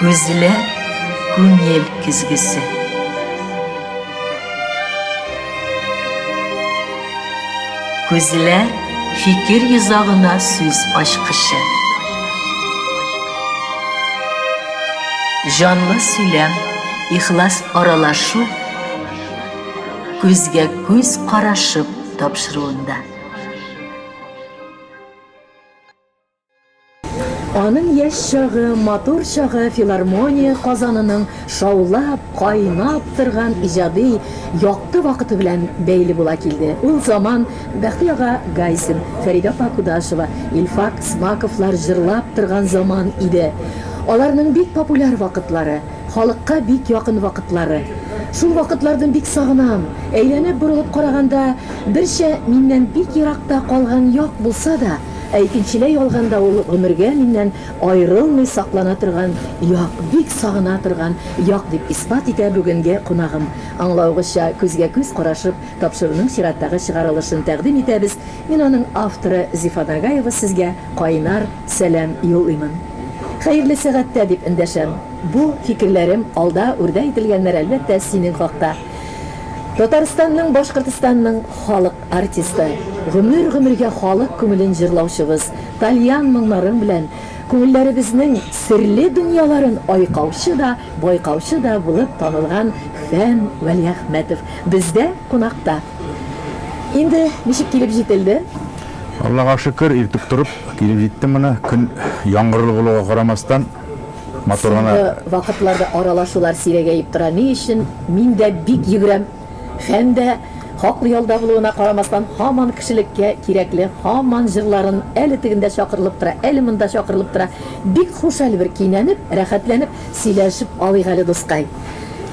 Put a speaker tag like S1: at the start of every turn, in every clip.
S1: Күзләр күңел көзгесе. Күзләр фикер йозагына сүз ачкычы. Җанлы сөйләм, ихлас аралашу күзгә күз карашып тапшыруында.
S2: Аның яшь чагы, матур чагы филармония казанының шаулап, кайнап торган иҗади якты вакыты белән бәйле була килде. Ул заман Бәхти ага Гайсин, Фәридә апа Кудашева, Илфак Смаковлар җырлап торган заман иде. Аларның бик популяр вакытлары, халыкка бик якын вакытлары. Шул вакытларны бик сагынам. Әйләнеп-борылып караганда, берчә миннән бик еракта калган як булса да, Ә икенчеләй алганда ул гомергә миннән аерылмый саклана торган як, бик сагына торган як, дип исбат итә бүгенге кунагым. Аңлавыгызча, күзгә-күз карашып, тапшыруның чираттагы чыгарылышын тәкъдим итәбез. Мин аның авторы Зифа Нагаева сезгә кайнар сәлам юллыймын. Хәерле сәгатьтә дип эндәшәм. Бу, фикерләрем, алда үрдә ителгәннәр, әлбәттә, синең хакта. Татарстанның, Башкортостанның халык. Артисты, гомер-гомергә халык күңелен җырлаучыбыз, тальян моңнарың белән күңелләребезнең серле дөньяларын айкаучы да, байкаучы да булып танылган Фән Вәлиәхмәтов бездә кунакта. Инде ничек килеп җителде? Аллага
S3: шөкер, иртүк торып, килеп җиттем гына. Көн яңгырлы булуга карамастан, матур гына. Соңгы вакытларда
S2: аралашулар сирәгәеп тора. Ни өчен? Мин дә бик йөгерәм. Һәм дә, хаклы ялда булуына карамастан, һаман кешелеккә кирәкле, һаман җырларын әле тегендә чакырылып тора, әле монда чакырылып тора. Бик хушаль бер, кинәнеп, рәхәтләнеп сөйләшеп алыйк әле, дускай.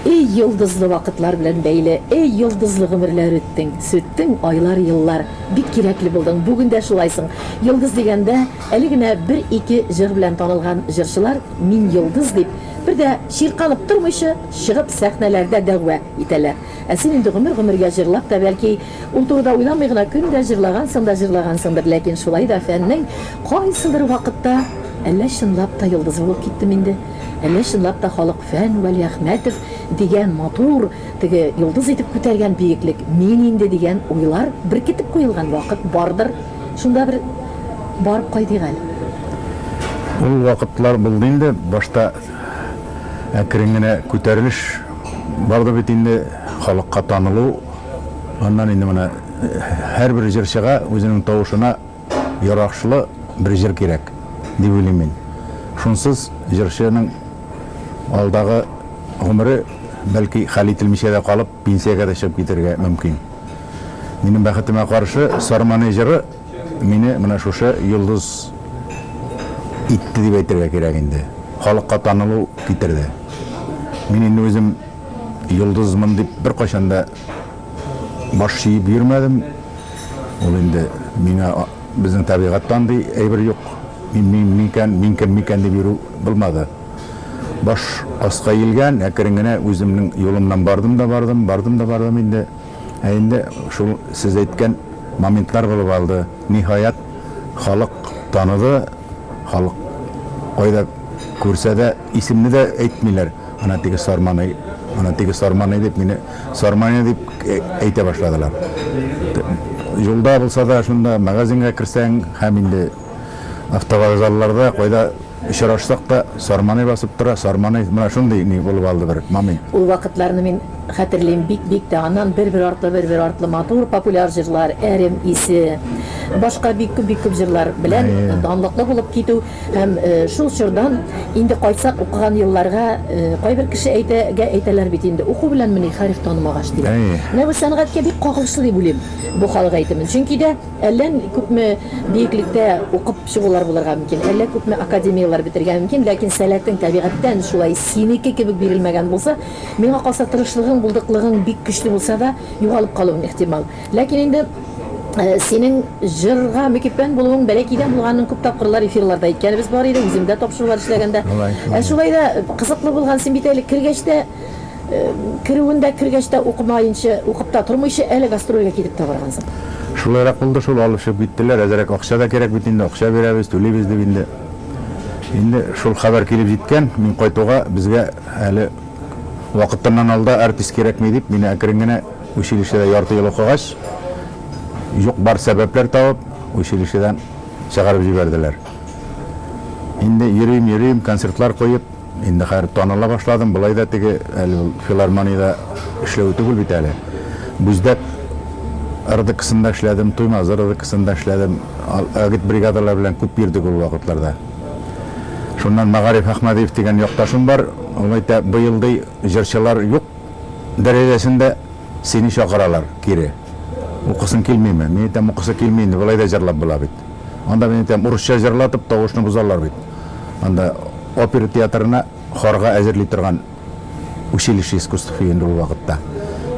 S2: Эй, йолдызлы вакытлар белән бәйле, эй, йолдызлы гомерләр үттең, сүттең, айлар, еллар. Бик кирәкле булдың, бүген дә шулайсың. Йолдыз дигәндә, әле генә бер-ике җыр белән танылган җырчылар, Мин йолдыз дип, бер дә чиркалып тормыйчы, чыгып, сәхнәләрдә дәгъва итәләр. Ә син инде гомер-гомергә җырлап та, бәлки, ул турыда уйламый гына көн дә җырлагансың да җырлагансыңдыр, ләкин шулай да фәннең кайсыдыр вакытта Әллә чынлап та йолдызы булып киттем инде? Әллә чынлап та халык фән Вәлиәхмәтов дигән матур, теге йолдыз итеп күтәргән биеклек мин инде дигән уйлар беркетеп куелган вакыт бардыр, шунда бер барып кайтыйк әле.
S3: Ул вакытлар булды инде, башта Әкрен генә күтәрелеш барды бит инде, халыкка танылу. Аннан инде менә һәрбер җырчыга үзенең тавышына ярашлы бер җыр кирәк, дип уйлыйм мин. Шунсыз җырчының алдагы гомере, бәлки, хәл ителмичә дә калып, пенсиягә дә чыгып китәргә мөмкин. Минем бәхетемә каршы, Сарманый җыры Мине менә шушы йолдыз итте дип әйтергә кирәк инде. Халыкка танылу китерде. Мин инде үзем йолдызмын дип беркайчан да баш чиеп йөрмәдем. Ул инде миңа безнең табигатьтә андый әйбер юк. Мин мин микән, мин кем микән дип йөрү булмады. Баш аска иелгән, әкрен генә үземнең юлымнан бардым да бардым, бардым да бардым инде. Ә инде шул сез әйткән моментлар булып алды. Ниһаять, халык таныды, халык кайда күрсә дә, исемне дә әйтмиләр, ана теге Сарманый, ана теге Сарманый дип, мине Сарманий дип әйтә башладылар. Юлда булса да, шунда магазинга керсәң һәм инде автовокзалларда, кайда. Очрашсак та, Сарманый басып тора, Сарманый, менә шундый ни булып алды бер, мамый. Ул вакытларны мин
S2: хәтерлим бик, бик тә. Аннан бер-бер артлы, бер-бер артлы матур популяр җырлар, Әрем исе, башка бик күп, бик күп җырлар белән данлыклы булып китү һәм шул чордан инде кайтсак укыган елларга, кайбер кеше әйтә, гә әйтәләр бит инде, уку беләнмени хәреф танымагач, диләр. Менә бу сәнгатькә бик кагылышлы дип уйлыйм бу халык әйтемен, чөнки дә. Әллә күпме биеклектә укып чыгулар булырга мөмкин, әллә күпме академияләр бетергә мөмкин, ләкин сәләтең табигатьтән шулай синеке кебек бирелмәгән булса, миңа калса, тырышлыгың, булдыклыгың бик көчле булса да, югалып калуың ихтимал. Ләкин инде синең җырга мөкиббән булуың бәләкәйдән булганын күп тапкырлар эфирларда әйткәнебез бар иде, үзем дә тапшырулар эшләгәндә. Ә шулай да кызыклы булган, син бит әле кергәч тә, Керүен дә, кергәч тә укымаенчы, укып та тормыйчы, әле гастрольгә китеп тә баргансың. Шулайрак
S3: булды шул, алып чыгып киттеләр. Әзрәк акча да кирәк бит инде, акча бирәбез, түлибез дип инде. Инде шул хәбәр килеп җиткән, мин кайтуга, безгә әле вакытыннан алда артист кирәкми дип, мине әкрен генә училищеда ярты ел укыгач, юк-бар сәбәпләр табып, училищедан чыгарып җибәрделәр. Инде йөрим, йөрим, концертлар куеп. Инде хәер таныла башладым, болай да теге, әле ул филармониядә эшләве түгел бит әле. Бүздәк РДКсында эшләдем, Туймазы РДКсында эшләдем. Агитбригадалар белән күп йөрдек ул вакытларда. Шуннан Мәгариф Әхмәдиев дигән якташым бар, ул әйтә, быел, ди, җырчылар юк дәрәҗәсендә, сине чакыралар кире. Укысын килмиме? Мин әйтәм, укысы килми инде, болай да җырлап була бит. Анда мин әйтәм, урысча җырлатып, тавышны бозалар бит. Анда опера театрына хорга әзерли торган училище искусств инде ул вакытта.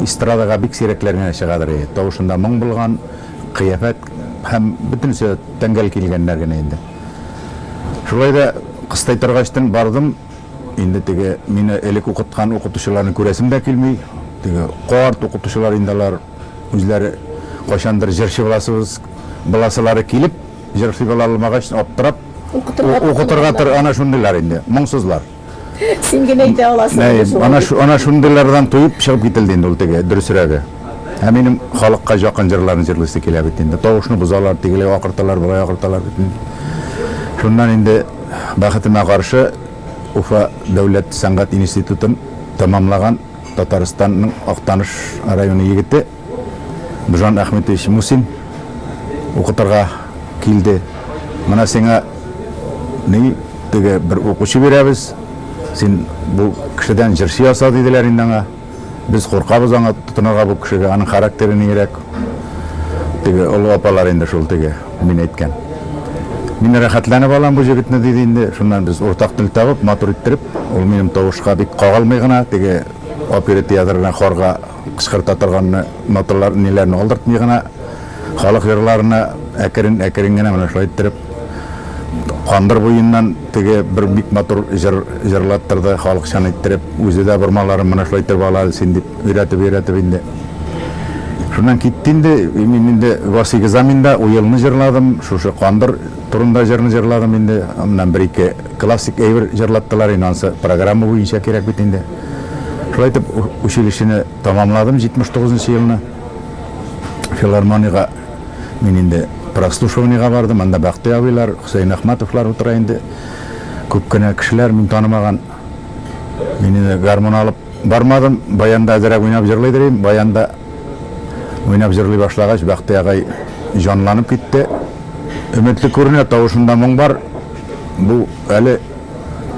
S3: Эстрадага бик сирәкләр генә чыгадыр иде. Тавышында моң булган, кыяфәт һәм бөтенесе тәңгәл килгәннәр генә инде. Шулай да кыстайтыргачтын бардым. Инде теге мине элек укыткан укытучыларны күрәсем дә килми. Теге карт укытучылар инде алар үзләре кайчандыр җырчы буласыбыз, буласылары килеп, җырчы була алмагач, аптырап, укытырга тырышалар. Ана шундыйлар инде, моңсызлар. Син генә
S2: әйтә аласың. Әйе, ана шундыйлардан
S3: туеп чыгып кителде инде ул теге, дөресрәге. Ә минем халыкка жакын җырларны җырлыйсы килә бит инде. Тавышны бозалар, тегеләй акырталар, болай акырталар бит инде. Шуннан инде бәхетемә каршы Уфа дәүләт сәнгать институтын тәмамлаган Татарстанның Актаныш районы егете Бжан Әхметович Мусин укытырга килде. Менә сиңа ни теге бер укучы бирәбез, син бу кешедән җырчы яса, диделәр инде аңа. Без куркабыз аңа тотынырга бу кешегә, аның характеры ниерәк. Теге олы апалар инде шул теге мин әйткән. Мин рәхәтләнеп алам бу җегетне, диде инде. Шуннан без уртак тел табып, матур иттереп, ул минем тавышка бик кагылмый гына, теге оперы театрына хорга кычкырта торганны, ноталар ниләрне алдыртмый гына, халык җырларына әкрен-әкрен генә менә шулай иттереп, Кандыр буеннан теге бер бик матур җыр җырлаттырды, халыкчан иттереп. Үзе дә бормаларын менә шулай иттереп ала әле син, дип өйрәтеп-өйрәтеп инде. Шуннан китте инде. Мин инде Васыйк Заминда Уелны җырладым, шушы Кандыр турында җырны җырладым инде. Аннан бер-ике классик әйбер җырлаттылар инде, анысы программа буенча кирәк бит инде. Шулай итеп, училищены тәмамладым, 79 нчы елны филармониягә Мин инде прослушиваниегә бардым, анда Бәхти абыйлар, Хөсәен Әхмәтовлар утыра инде. Күп кенә кешеләр, мин танымаган. Мин инде гармун алып бармадым, баянда әзрәк уйнап җырлый дер идем. Баянда уйнап җырлый башлагач, Бәхти агай җанланып китте. Өметле күренә, тавышында моң бар. Бу әле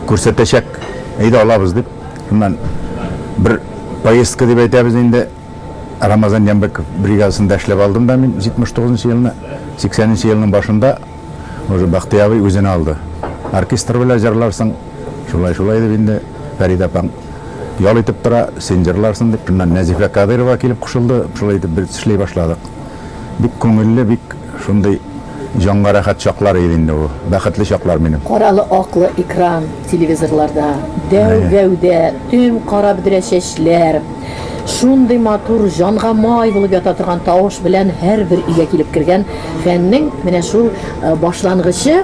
S3: күрсәтәчәк. Әйдә, алабыз, дип, шуннан бер поездка дип әйтәбез инде. Рамазан Ямбеков бригадасында эшләп алдым да мин 79 нчы елны, 80 нчы елның башында уже Бахтый абый үзенә алды. Оркестр белән җырларсың, шулай шулай дип инде Фәрид апаң ял итеп тора, син җырларсың дип, шуннан Нәзифә Кадыйрова килеп кушылды, шулай итеп без эшли башладык. Бик күңелле, бик Шундый җанга рәхәт чаклар иде инде ул. Бәхетле чаклар минем. Каралы аклы
S2: экран телевизорларда, дәү гәүдә, төм кара бөдрә чәчләр, шундый матур, җанга май булып ята торган тавыш белән һәрбер өйгә килеп кергән фәннең менә шул башлангычы.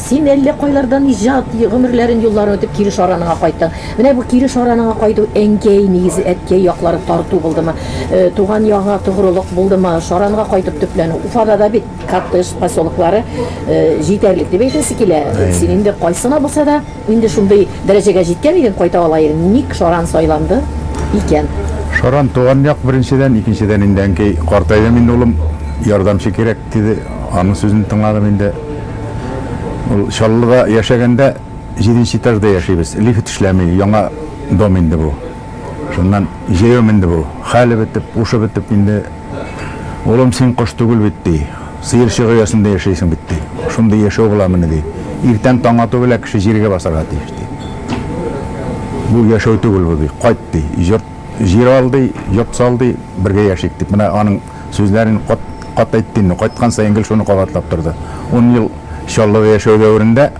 S2: Син әллә кайлардан иҗат гомерләрен юлларым үтеп кире Шараныңа кайттың. Менә бу кире Шараныңа кайту әнкәй, нигезе әткәй яклары тарту булдымы? Туган ягыңа тогрылык булдымы? Шаранга кайтып төпләнү. Уфада да бит коттедж поселоклары җитәрлек дип әйтәсе килә. Син инде кайсы гына булса да инде шундый дәрәҗәгә җиткән идең, кайта ала идең. Ник Шаран сайланды икән? Шаран, туган
S3: як беренчедән, икенчедән инде әнкәй, картайдым инде улым, ярдәмче кирәк. Теге аның сүзен тыңладым инде. Ул Чаллыда яшәгәндә, җиденче этажда яшибез, лифт эшләми, яңа дом инде бу. Шуннан җәяү менде бу. Хәле бетеп, һушы бетеп инде, Улым, син кош түгел бит, ди. Сыерчык оясында яшәйсең бит, ди. Шундый яшәү буламыни, ди. Иртән таң ату белән кеше җиргә басарга тиеш, ди. Бу яшәү түгел бу, ди. Кайт, ди. Йорт, җир ал, ди, йорт сал, ди, бергә яшик, дип, менә аның сүзләрен кат-кат әйтте инде, кайткан саен гел шуны кабатлап торды. Ун ел Чаллыда яшәү дәверендә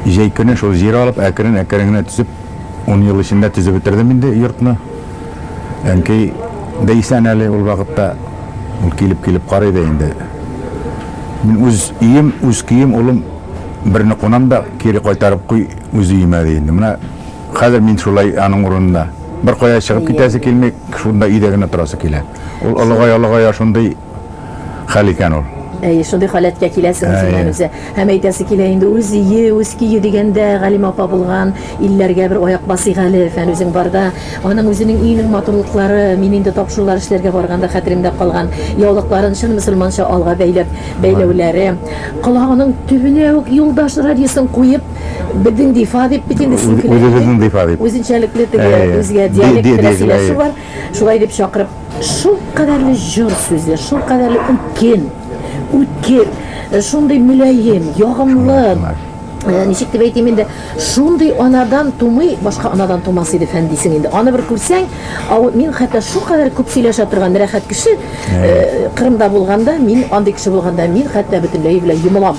S3: җәй көне шул җир алып, әкрен-әкрен генә төзеп, ун ел эчендә төзеп бетердем инде йортны. Әнкәй дә исән әле ул вакытта, ул килеп-килеп карый да инде. Мин үз өем, үз көем, улым, берне кунам да, кире кайтарып куй үз өемә, ди инде. Менә. Хәзер мин шулай аның урынында. Беркая чыгып китәсе килми, шунда өйдә генә торасы килә. Ул олыгая-олыгая шундый хәл икән ул. Әйе, шундый халәткә
S2: киләсең үзеңнән үзе. Һәм әйтәсе килә инде, үз өе, үз көе дигәндә, Галимә апа булган илләргә бер аяк басыйк әле, Фән үзең барда. Аның үзенең өенең матурлыклары, мин инде тапшырулар эшләргә барганда хәтеремдә калган, яулыкларын чын мөселманча алга бәйләп бәйләүләре, колагының төбенә үк юлдаш радиосын куеп, Бедин дифа дип бит инде син килә. Үзебезнең дифа дип.
S3: Үзенчәлекле теге
S2: үзгә диалект белән сөйләшү бар. Шулай дип чакырып, шул кадәрле җор сүзле, шул кадәрле үткен, үткер, э, шундый мөлаем, ягымлы. Э, ничек дип әйтим инде, шундый анадан тумый, башка анадан тумас иде фән дисең инде. Аны бер күрсәң, ау, мин хәтта шу кадәр күп сөйләшә торган рәхәт кеше, э, Кырымда булганда, мин андый кеше булганда, мин хәтта бөтенләй белән йомылам.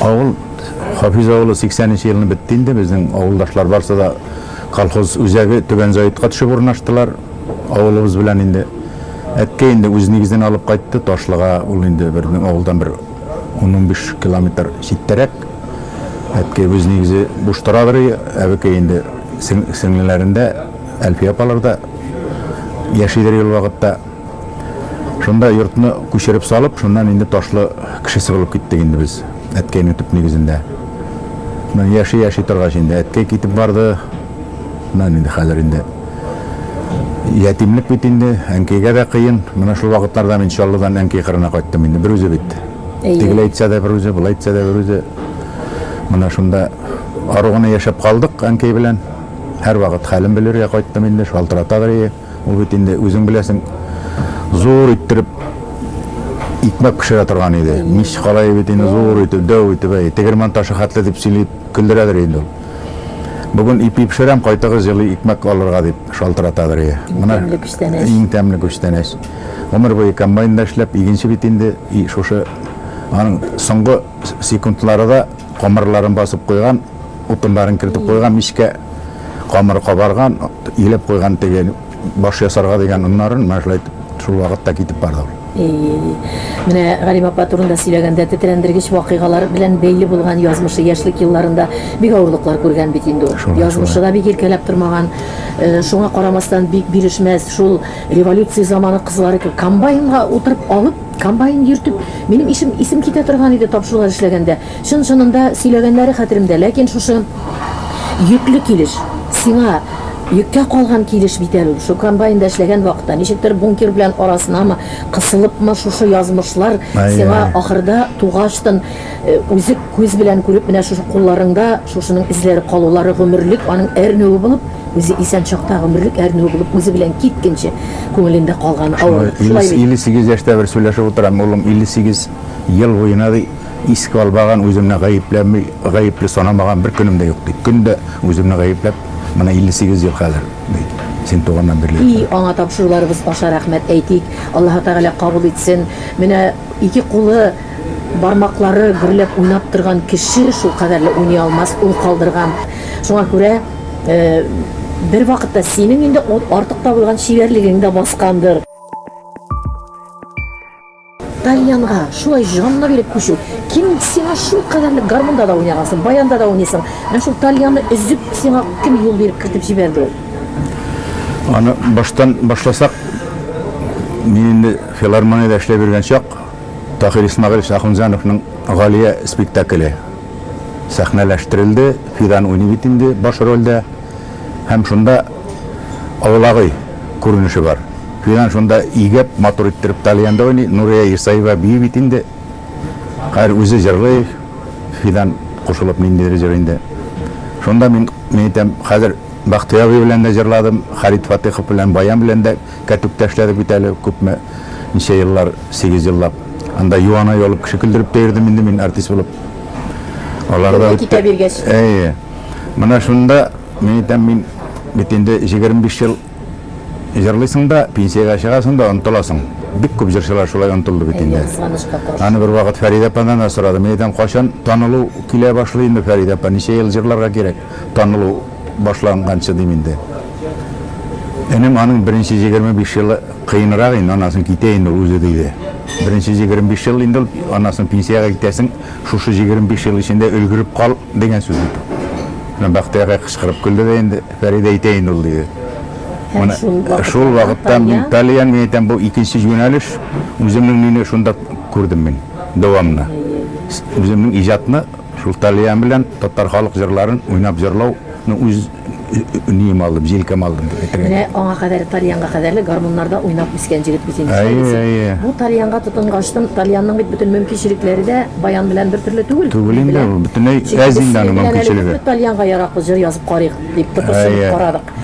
S2: Авыл
S3: Хафиз авылы 80 нче елны бетте инде, безнең авылдашлар барсы да колхоз үзәге Түбән Заитка төшеп урнаштылар. Авылыбыз белән инде әткәй инде үз нигезен алып кайтты, Ташлыга ул инде безнең авылдан бер 10-15 километр читтәрәк. Әткәй үз нигезе буш торадыр, әбекәй инде сеңлеләрендә, Әлфия апаларда яшидер ел вакытта. Шунда йортны күчереп салып, шуннан инде Ташлы кешесе булып киттек инде без, әткәйнең төп нигезендә. Шуннан яши-яши торгач инде әткәй китеп барды. Шуннан инде хәзер инде ятимлек бит инде, әнкәйгә дә кыен. Менә шул вакытларда мин Чаллыдан әнкәй кырына кайттым инде, берүзе бит. Әйе. Тегеләй әйтсә дә берүзе, болай әйтсә дә берүзе. Менә шунда ару гына яшәп калдык әнкәй белән. Һәрвакыт хәлен белергә кайттым инде, шалтыратадыр ие. Ул бит инде, үзең беләсең, зур иттереп икмәк пешерә торган иде. Мич калае бит инде зур итеп, дәү итеп, әй, тегермән ташы хәтле дип сөйли, көлдерәдер инде ул. Бүген ипи пешерәм, кайтыгыз җылы икмәк алырга, дип шалтыратадыр ие. Иң тәмле күчтәнәч. Иң тәмле күчтәнәч. Гомер буе комбайнда эшләп, игенче бит инде, и шушы аның соңгы секундлары да камырларын басып куйган, Утыннарын кертеп куйган мичкә, камыры кабарган, илеп куйган теге баш ясарга дигән оннарын, менә шулай шул вакытта китеп барды ул.
S2: Менә Галим апа турында сөйләгәндә, тетрәндергеч вакыйгалар белән бәйле булган язмышы, яшьлек елларында бик авырлыклар күргән бит инде ул. Язмышы да бик иркәләп тормаган. Шуңа карамастан, бик бирешмәс, шул революция заманы кызлары кебек комбайнга утырып алып, комбайн йөртеп, минем исем китә торган иде тапшырулар эшләгәндә. Чын-чынында сөйләгәннәре хәтеремдә, ләкин шушы йөкле килеш, сиңа йөккә калган килеш бит әле ул. Шул комбайнда эшләгән вакытта, ничектер бункер белән арасынамы, кысылыпмы, шушы язмышлар сиңа Ай-яй. ахырда тугачтын үзек күз белән күреп, менә шушы кулларыңда шушының эзләре калулары гомерлек аның әрнүе булып, үзе исән чакта гомерлек әрнүе булып үзе белән киткенче күңелендә калган авырлык. Шулай бит? Илле сигез яшьтә
S3: бер сөйләшеп утырам, улым, илле сигез ел буена, ди. Искә алмаган, үземне гаепләми, гаепле санамаган бер көнем дә юк, ди. Көн дә үземне гаепләп, менә 58 ел хәзер, ди, син туганнан бирле. И, аңа тапшыруларыбыз
S2: аша рәхмәт әйтик, Аллаһы Тәгалә кабул итсен. Менә ике кулы, бармаклары гөрләп уйнап торган кеше шулкадәрле уйный алмас, ул калдырган. Шуңа күрә бервакытта синең инде ул артык табылган чибәрлегең дә баскандыр. Тальянга шулай җанны биреп күчү. Ким сиңа шул кадәрлек гармунда да уйнагансың, баянда да уйныйсың. Менә шул тальянны өзеп сиңа кем юл биреп кертеп җибәрде ул?
S3: Аны баштан башласак, мин инде филармониядә эшләп йөргән чак Тахир Исмагыйлович Ахунҗановның Галия спектакле сәхнәләштерелде. Фидан уйный бит инде баш рольдә. һәм шунда Авылагый күренеше бар. Фидан шунда игеп, матур иттереп тальянда уйный. Нурия Исаева бии бит инде. Хәер, үзе җырлый, Фидан кушылып ниндидер җыр инде. Шунда мин, мин әйтәм, хәзер Бахтый абый белән дә җырладым, Харит Фатыйхов белән, Баян белән дә кәтүктә эшләдек бит әле күпме, ничә еллар, сигез еллап. Анда юана ялып, кеше көлдереп тә йөрдем инде мин артист булып. Алар да Китә биргәч.
S2: Әйе. Менә
S3: шунда мин әйтәм, мин бит инде 25 ел җырлыйсың да, пенсиягә чыгасың да онтыласың. Бик күп җырчылар шулай онтылды бит инде. Аны бер вакыт Фәридә ападан да сорадым. Мин әйтәм, кайчан танылу килә башлый инде, Фәридә апа, ничә ел җырларга кирәк танылу башланганчы, дим инде. Энем аның беренче 25 елы кыенрак инде, аннан соң китә инде ул үзе, диде. Беренче 25 ел инде ул, аннан соң пенсиягә китәсең. Шушы җигерме биш ел эчендә өлгереп кал, дигән сүз бит ул. Менә Бәхтияргә кычкырып көлде дә инде, Фәридә әйтә инде ул, диде. Менә шул вакыттан мин, Талия, мин әйтәм, бу икенче юнәлеш, үземнең мине шунда күрдем мин, дәвамны. Үземнең иҗатны шул Талия белән татар халык җырларын уйнап җырлау, ну үз. Ним алдым, җилкәм алдым дип әйтергә. Менә аңа кадәр тальянга
S2: кадәрле гармуннарда уйнап үскән җегет бит инде. Әйе, Бу тальянга тотынгачтын, тальянның бит бөтен мөмкинчелекләре дә баян белән бертөрле түгел. Түгел инде, ул бөтенләй
S3: әз инде аның мөмкинчелеге. Без тальянга яраклы җыр
S2: язып карыйк дип тыпырчынып карадык.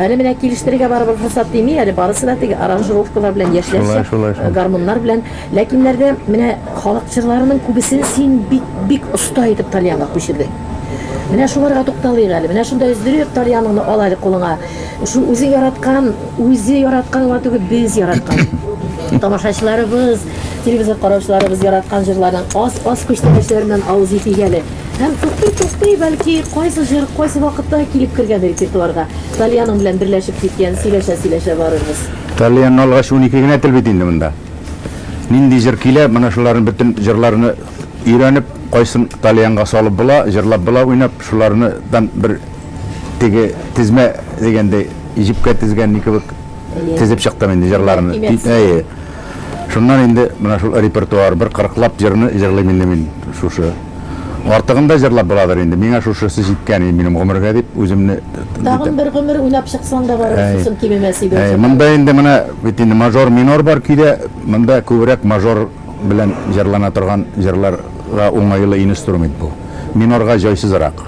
S2: Әле менә килештерергә барыбер форсат тими, әле барысы да теге аранжировкалар белән яшьләрчә гармуннар белән. Ләкиннәр дә менә халык җырларының күбесен син бик оста итеп тальянга күчердең. Менә шуларга тукталыйк әле. Менә шунда өздереп тальяныңны ал әле кулыңа. Шул үзең яраткан, үзе яраткан гына түгел, без яраткан. Тамашачыларыбыз, телевизор караучыларыбыз яраткан җырларның аз-аз күчтәнәчләреннән авыз итик әле. Һәм туктый-туктый, бәлки, кайсы җыр, кайсы вакытта килеп кергән репертуарга. Тальяның белән берләшеп киткән, сөйләшә-сөйләшә барырбыз. Тальянны алгач,
S3: унике генә тел бит инде монда. Нинди җыр килә, менә шуларның бөтен җырларны Өйрәнеп, кайсын тальянга салып була, җырлап була, уйнап, шуларны дан бер теге тезмә дигәндәй, җепкә тезгән ни кебек тезеп чыктым инде җырларны. Әйе. Шуннан инде менә шул репертуар, бер кырыклап җырны җырлыйм инде мин шушы. Артыгын да җырлап буладыр инде, миңа шушысы җиткән иде минем гомергә дип үземне. Тагын бер гомер
S2: уйнап чыксаң да барып шусын кимемәс иде. Әйе, монда инде менә
S3: бит инде мажор-минор бар көйдә, монда күбрәк мажор. белән җырлана торган җырларга уңайлы инстру мент бу. Минорга җайсызрак.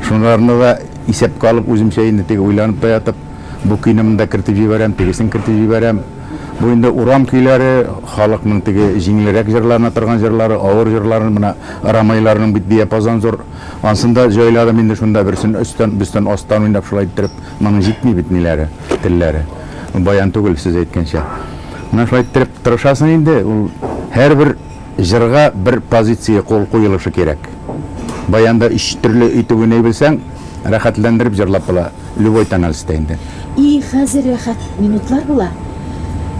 S3: Шунларны да исәпкә алып, үземчә инде теге уйланып та ятып, бу көйне монда кертеп җибәрәм, тегесен кертеп җибәрәм. Бу инде урам көйләре, халыкның теге җиңелрәк җырлана торган җырлары, авыр җырларын, менә Рамайларның бит диапазон зур. Ансын да җайладым инде шунда, берсен өстән, берсен астан уйнап, шулай иттереп. Моның җитми бит ниләре, телләре. Баян түгел, сез әйткәнчә. Менә шулай иттереп тырышасың инде, ул һәрбер җырга бер позиция кул куелышы кирәк. Баянда өч төрле итеп уйный белсәң, рәхәтләндереп җырлап була, любой тональстә инде. И, хәзер
S2: рәхәт минутлар була.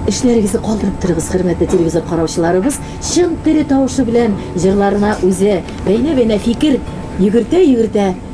S2: Эшләрегезне калдырып торыгыз, хөрмәтле телевизор караучыларыбыз, чын тере тавышы белән җырларына үзе бәйнә-бәйнә фикер йөгертә-йөгертә,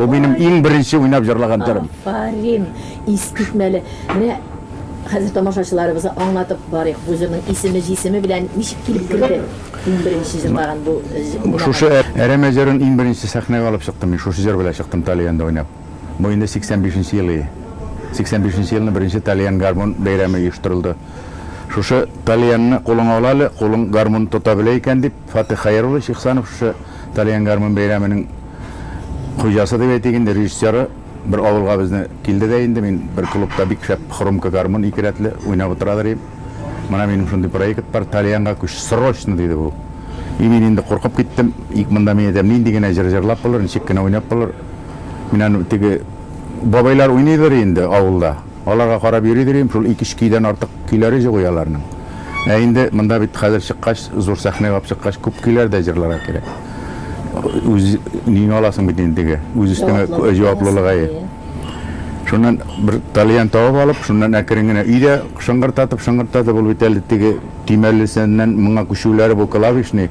S3: Бу минем иң беренче уйнап җырлаган төрем. Афарин,
S2: искитмәле. Менә хәзер тамашачыларыбызга аңлатып барыйк. Бу җырның исеме, җисеме белән ничек килеп керде? Иң беренче җырлаган бу. Шушы
S3: әрәмә җырын иң беренче сәхнәгә алып чыктым. Мин шушы җыр белән чыктым Талиянда уйнап. Бу инде 85 нче ел ие. 85 нче елны беренче тальян гармун бәйрәме оештырылды. Шушы тальянны кулыңа ала әле, кулың гармун тота белә икән, дип, Фатыйх Хәйруллович Ихсанов шушы тальян гармун бәйрәменең хуҗасы дип әйтик инде, режиссеры бер авылга безне килде дә инде, мин бер клубта бик шәп хромка гармун ике рәтле уйнап утырадыр идем. Менә минем шундый проект бар, тальянга күч, срочно, диде бу. И мин инде куркып киттем, ик монда мин әйтәм, нинди генә җыр җырлап булыр, ничек кенә уйнап булыр. Мин аны теге бабайлар уйныйдыр инде авылда, аларга карап йөридер идем, шул ике-өч көйдән артык көйләре җук иде аларның. Ә инде монда бит хәзер чыккач, зур сәхнә алып чыккач, күп көйләр дә җырларга кирәк. Үз өеңә аласың бит инде теге, үз өстеңә җаваплылык, әйе. Шуннан бер тальян табып алып, шуннан әкрен генә өйдә шыңгырдатып-шыңгырдатып, ул бит әле теге төймәлесеннән моңа күчүләре бу клавишный,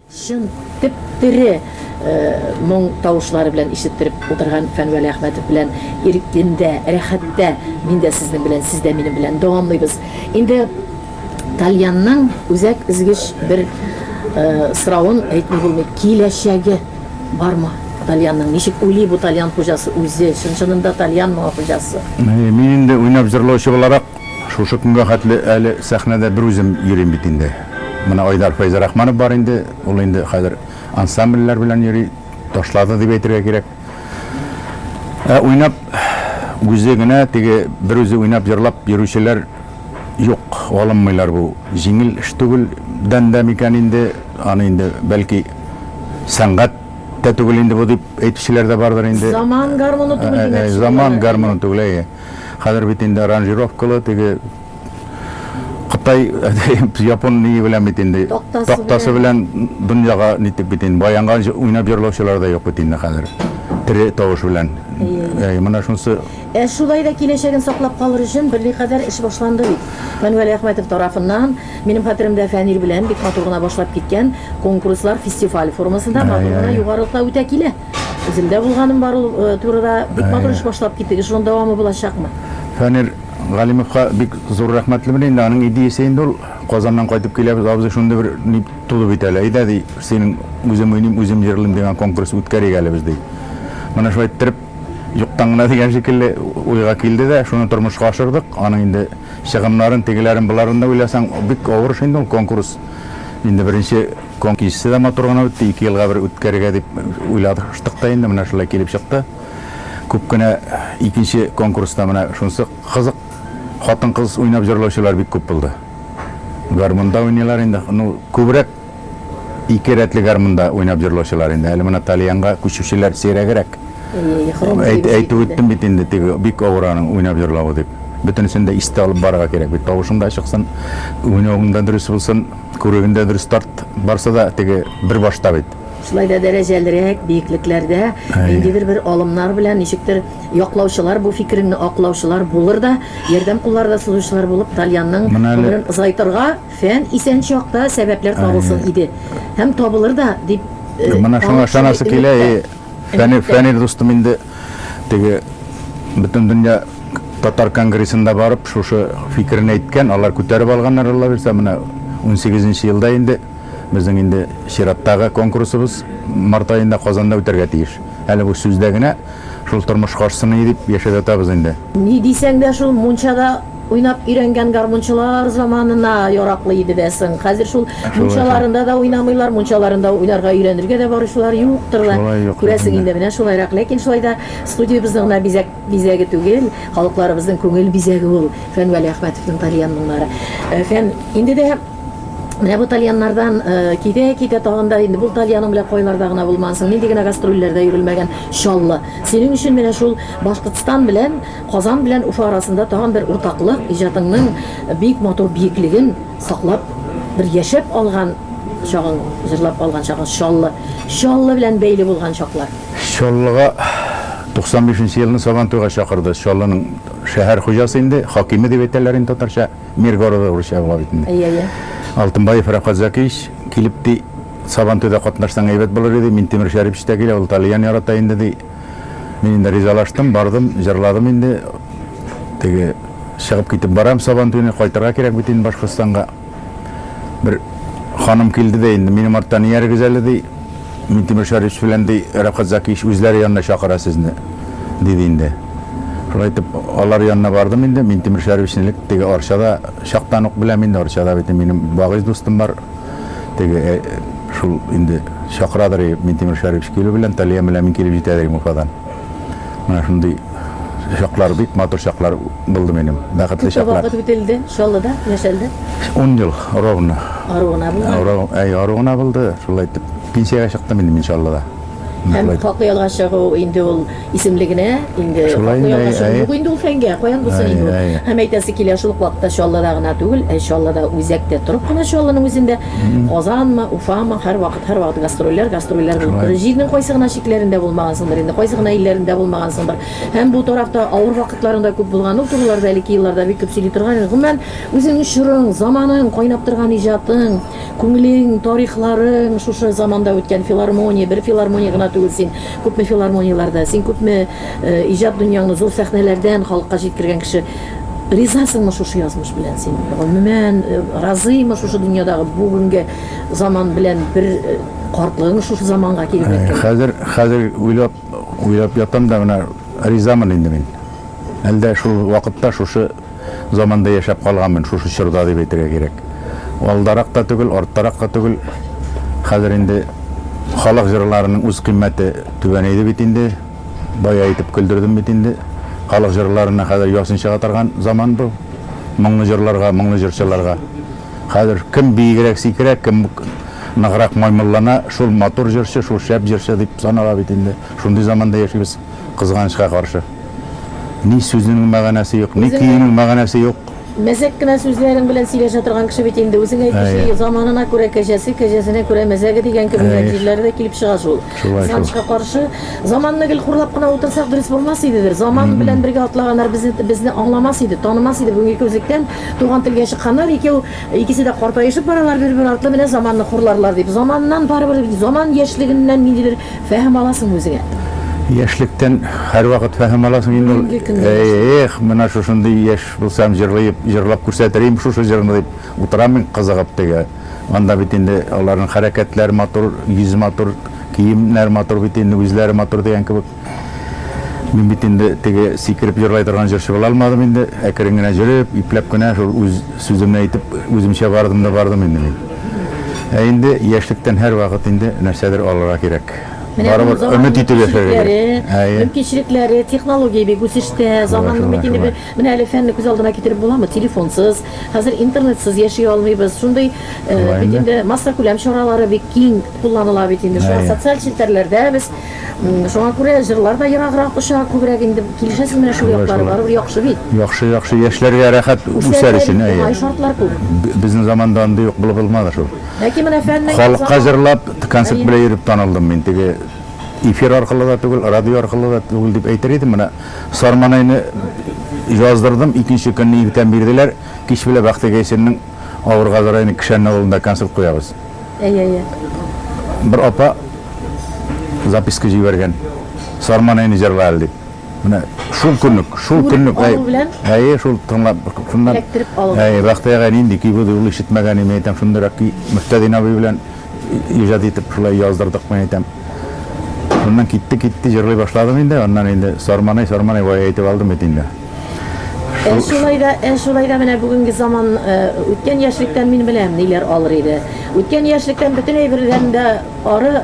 S2: Чын, теп-тере моң тавышлары белән ишеттереп утырган Фән Вәлиәхмәтов белән иркендә, рәхәттә мин дә сезнең белән, сез дә минем белән дәвамлыйбыз. Инде Тальянның үзәк өзгеч бер соравын әйтми булмый, киләчәге бармы Тальянның? Ничек уйлый бу Тальян хуҗасы үзе? Чын-чынында Тальянмы хуҗасы? Мин инде
S3: уйнап-җырлаучы буларак, Шушы көнгә хәтле әле сәхнәдә бер үзем йөрим бит инде. Менә Айдар Фәйзрахманов бар инде, ул инде хәзер ансамбльләр белән йөри, ташлады дип әйтергә кирәк. Ә уйнап үзе генә теге бер үзе уйнап җырлап йөрүчеләр юк, алынмыйлар бу. Җиңел эш түгел дән дә микән инде, аны инде бәлки сәнгать тә түгел инде бу дип әйтүчеләр дә бардыр инде. Заман гармуны түгел
S2: димәкче булалар. Заман гармуны түгел,
S3: әйе. Хәзер бит инде аранжировкалы теге Кытай, Япон ние белән бит инде тактасы белән дөньяга нитеп бит инде баянга уйнап җырлаучылар да юк бит инде хәзер. Тере тавыш белән. Әй, менә шунысы. Ә шулай да
S2: киләчәген саклап калыр өчен берни кадәр эш башланды бит. Фәнвәли Әхмәтов тарафыннан, минем хәтеремдә Фәнир белән бик матур гына башлап киткән конкурслар фестиваль формасында матур гына югарылыкта үтә килә. Үземдә булганым бар ул э, турыда. Бик матур эш башлап киттегез. Шуның дәвамы булачакмы? Фәнир
S3: Галимовка бик зур рәхмәтле бит инде. Аның идеясе инде ул Казаннан кайтып киләбез, абзый шундый бер ни туды бит әле. Әйдә ди, синең үзем уйныйм, үзем җырлыйм дигән конкурс үткәрик әле без ди. Менә шулай иттереп юктан гына дигән шикелле уйга килде дә, шуны тормышка ашырдык. Аның инде чыгымнарын, тегеләрен, боларын да уйласаң, бик авыр эш инде ул конкурс. Инде беренче Көн кичесе дә матур гына үтте, ике елга бер үткәрергә дип уйладык та инде, менә шулай килеп чыкты. Күп кенә икенче конкурста менә шунсы кызык, хатын-кыз уйнап җырлаучылар бик күп булды. Гармунда уйныйлар инде, ну, күбрәк ике рәтле гармунда уйнап җырлаучылар инде, әле менә тальянга күчүчеләр сирәгрәк. Әйтеп үттем бит инде, теге бик авыр аның уйнап җырлавы дип. Бөтенесен дә истә алып барырга кирәк бит, тавышың да чыксын, уйнавың да дөрес булсын. Күрегендә бер старт барсы да теге бер башта бит. Шулай да дәрәҗәлерәк
S2: биеклекләрдә ниндидер бер алымнар белән, ничектер яклаучылар, бу фикереңне аклаучылар булыр да, ярдәм куллары да сузучылар булып Тальянның гомерен озайтырга фән исән чакта сәбәпләр табылсын иде. Һәм табылыр да дип калып шундый
S3: өметтә. Фәнир, Фәнир дустым инде теге бөтен дөнья татар конгрессында барып, шушы фикерен әйткән, алар күтәреп алганнар, Алла бирсә, менә 18 нче елда инде безнең инде чираттагы конкурсыбыз март аенда Казанда үтәргә тиеш. Әле бу сүздә генә шул тормыш каршысына дип яшәп ятабыз инде. Ни дисәң дә шул
S2: мунчада Уйнап өйрәнгән гармунчылар заманына яраклы иде дә соң. Хәзер шул мунчаларында да уйнамыйлар, мунчаларында уйнарга өйрәнергә дә баручылар юктыр да, күрәсең инде, менә шулайрак. Ләкин шулай да студиябезнең генә бизәк бизәге түгел, халыкларыбызның күңел бизәге ул Фән Вәлиәхмәтовның тальян моңнары. Фән, инде дә менә бу тальяннардан китә-китә тагын да инде бул тальяның белән кайларда гына булмансың, нинди генә гастрольләрдә йөрелмәгән Чаллы. Синең өчен менә шул Башкортстан белән Казан белән Уфа арасында тагын бер уртаклык, иҗатыңның бик матур биеклеген саклап, бер яшәп алган чагың, җырлап алган чагың, Чаллы, Чаллы белән бәйле булган чаклар. Чаллыга 95
S3: нче елны Сабантуйга чакырды. Чаллының шәһәр хуҗасы инде, хакиме дип әйтәләр инде татарча, мэр города урысча була бит инде. Әйе, әйе. Алтынбаев
S2: Рәфкать
S3: Зәкиевич килеп, ди, Сабантуйда катнашсаң әйбәт булыр иде, Минтимер Шәрипович та килә, ул тальян ярата инде, ди. Мин инде ризалаштым, бардым, җырладым инде. Теге чыгып китеп барам Сабан туена, кайтырга кирәк бит инде Башкортстанга. Бер ханым килде дә инде, минем арттан иярегез әле ди. Мин Тимир Шәриф белән ди Рәфкать Закиевич үзләре янына чакыра сезне, диде инде. Шулай итеп, алар янына бардым инде. Мин Тимир Шәрифичне элек теге Арчада чактан ук беләм инде. Арчада бит минем багыйз дустым бар. теге шул инде чакырадыр и Минтимер Шәрипович килү белән Талия белән мин килеп җитәдер инде Уфадан. Менә шундый чаклар бик матур чаклар булды минем. Бәхетле чаклар. Вакыт үтелде, Чаллыда
S2: яшәлде. 10 ел
S3: ровно.
S2: Ару гына булды. Ару, әй, ару гына булды.
S3: Шулай итеп пенсиягә чыктым инде мин Чаллыда. Һәм Мөхәммәд. хаклы
S2: ялга чыгу инде ул исемлегенә инде Шулай хаклы инде, ялга әй, чыгу әй. юк инде ул фәнгә, каян булсын Әй, инде ул. әй. Һәм әйтәсе килә, шул ук вакытта Чаллыда гына түгел, ә Чаллыда үзәктә торып кына Чаллының үзендә, Казанмы, Уфамы, һәрвакыт, һәрвакыт гастрольләр, гастрольләр булып Шулай. торыр. Җирнең кайсы гына чикләрендә булмагансыңдыр инде, кайсы гына илләрендә булмагансыңдыр. Һәм бу тарафта авыр вакытларың да күп булган ул тулыларда, әлеге елларда бик күп сөйли торган инде. Гомумән, үзеңнең чорың, заманың, кайнап торган иҗатың, Күңелең, тарихларың шушы заманда үткән филармония, бер филармония гына түгел син, күпме филармонияләрдә, син күпме иҗат дөньяңны зур сәхнәләрдән халыкка җиткергән кеше. Ризасыңмы шушы язмыш белән син? Гомумән, разыймы шушы дөньядагы бүгенге заман белән бер картлыгың шушы заманга килеп эләккән? Хәзер, хәзер уйлап.
S3: Уйлап ятам да, менә ризамын инде мин. Әлдә шул вакытта, шушы заманда яшәп калганмын, шушы чорда дип әйтергә кирәк. Алдарак та түгел, арттарак та түгел. Хәзер инде халык җырларының үз кыйммәте түбәнәйде бит инде. Бая итеп көлдердем бит инде. Халык җырларына хәзер ясин чыга торган заман бу. Моңлы җырларга, моңлы җырчыларга. Хәзер кем биегрәк сикерә, кем ныграк маймыллана, шул матур җырчы, шул шәп җырчы дип санала бит инде. Шундый заманда яшибез, кызганычка каршы. Ни сүзнең мәгънәсе юк, ни көенең мәгънәсе юк. Мәзәк кенә
S2: сүзләрең белән сөйләшә торган кеше бит инде. Үзең әйтүче, заманына күрә кәҗәсе, кәҗәсенә күрә мәзәге дигән кебегрәк җирләре дә килеп чыга шул. Кызганычка каршы, заманны гел хурлап кына утырсак дөрес булмас идедер. Заман белән бергә атлаганнар безне аңламас иде, танымас иде бүгенге күзлектән. Туган телгә чыкканнар икәү, икесе дә картаешып баралар, бер-бер артлы менә заманны хурларлар дип. Заманнан барыбер, заман яшьлегеннән ниндидер фәһем аласыңмы үзеңә? Яшьлектән
S3: һәрвакыт фәһем аласың инде ул. Бүгенге көнне яшьлек. Эх, менә шушындый яшь булсам, җырлыеп, җырлап күрсәтер идем шушы җырны дип утырам мин кызыгып теге. Анда бит инде аларның хәрәкәтләре матур, йөзе матур, киемнәре матур бит инде, үзләре матур дигән кебек. Мин бит инде теге сикереп җырлай торган җырчы була алмадым инде, әкрен генә җөреп, ипләп кенә шул үз сүземне әйтеп, үземчә бардым да бардым инде мин. Ә инде яшьлектән һәрвакыт инде нәрсәдер алырга кирәк. Менә бу Барыбер заманның өмет итеп яшәргә кирәк. кимчелекләре, Әйе. мөмкинчелекләре,
S2: технология бик үсештә, заманның шулай, мөмкинлеге. шулай. Менә әле фәнне күз алдына китереп буламы, телефонсыз, хәзер интернетсыз яши алмыйбыз. Шундый э, Шулай бит инде. инде массакүләм чаралары бик киң кулланыла бит инде. Шулай Әйе. социаль челтәрләрдә без Шуңа күрә җырлар да ераграк оча, күбрәк инде килешәсез менә шул яклары барыбер яхшы бит. Яхшы, яхшы, яшьләргә
S3: рәхәт үсәр өчен, әйе. Уңай шартлар күп.
S2: Безнең заманда андый
S3: ук булып булмады шул. Ләкин менә фәннең
S2: Халыкка җырлап,
S3: концерт белән йөреп танылдым мин. Теге эфир аркылы да түгел, радио аркылы да түгел дип әйтер идем. Менә Сарманайны яздырдым, икенче көнне иртән бирделәр. Кич белән Бәхтегайсинның Авыр Газраилнең Кешәнне авылында концерт куябыз. Әйе, әйе. Бер апа записка җибәргән. Сарман әни җырла әле дип. Менә шул көнлек, шул көнлек. Әйе, шул тыңлап, шуннан. Эләктереп алып. Әйе, Бәхтиягә нинди көй булды, ул ишетмәгән име, әйтәм, шундыйрак көй. Мөхтәдин абый белән иҗат итеп шулай яздырдык, мин әйтәм. Шуннан китте, китте, җырлый башладым инде, аннан инде Сарманай, Сарманай, вай әйтеп алдым бит инде. Ә шулай да, ә
S2: шулай да менә бүгенге заман э, үткән яшьлектән мин беләм ниләр алыр иде. Үткән яшьлектән бөтен әйбердән дә ары